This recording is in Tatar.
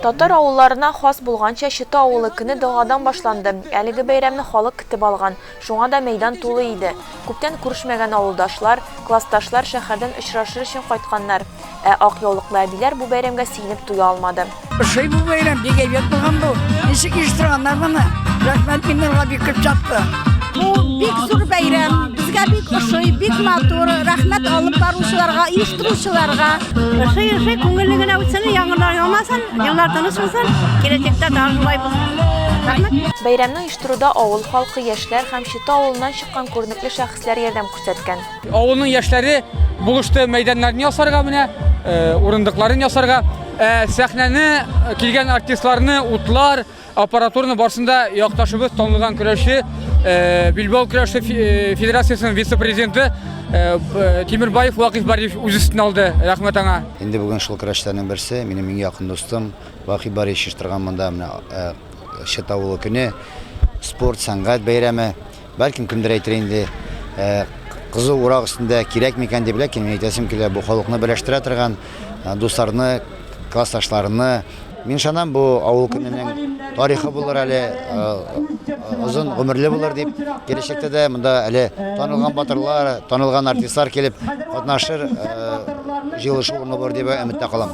Татар авылларына хас булганча, Чыты авылы көне догадан башланды. Әлеге бәйрәмне халык көтеп алган, шуңа да мәйдан тулы иде. Күптән күрешмәгән авылдашлар, классташлар, шәһәрдән очрашыр өчен кайтканнар. Ә ак яулыклы әбиләр бу бәйрәмгә сиенеп туя алмады. Ошый бу бәйрәм бик әйбәт булган бу. Ничек оештырганнар моны? Рәхмәт миннарга бик күп чапты. Бу бик зур бәйрәм. Безгә бик ошый, бик матур. Рәхмәт алып баручыларга, оештыручыларга. Ошый, ошый, күңелле генә үтсен, яңгырлар яумасын, еллар тыныч булсын, киләчәктә тагы шулай булсын. Бәйрәмне оештыруда авыл халкы, яшьләр һәм Чита авылыннан чыккан күренекле шәхесләр ярдәм күрсәткән. Авылның яшьләре булышты мәйданнарны ясарга менә, э, урындыкларын ясарга. Э, сәхнәне э, килгән артистларны, утлар, аппаратураны барсында якташыбыз танылган көрәшче, Билбау көрәше федерациясенең вице-президенты Тимирбаев Вакиф Бариев үз өстенә алды. Рәхмәт аңа. Инде бүген шул көрәшчеләрнең берсе, минем иң якын дустым Вакиф Бариев чыштырган монда менә Шетавылы көне, спорт, сәнгать бәйрәме. Бәлкем кемдер әйтер инде, кызу урак өстендә кирәк микән дип, ләкин мин әйтәсем килә, бу халыкны берләштерә торган, дусларны, классташларны. Мин ышанам, бу авыл көненең тарихы булыр әле, озын гомерле булыр дип, киләчәктә дә монда әле танылган батырлар, танылган артистлар килеп катнашыр, җыелышу урыны булыр дип өметтә калам.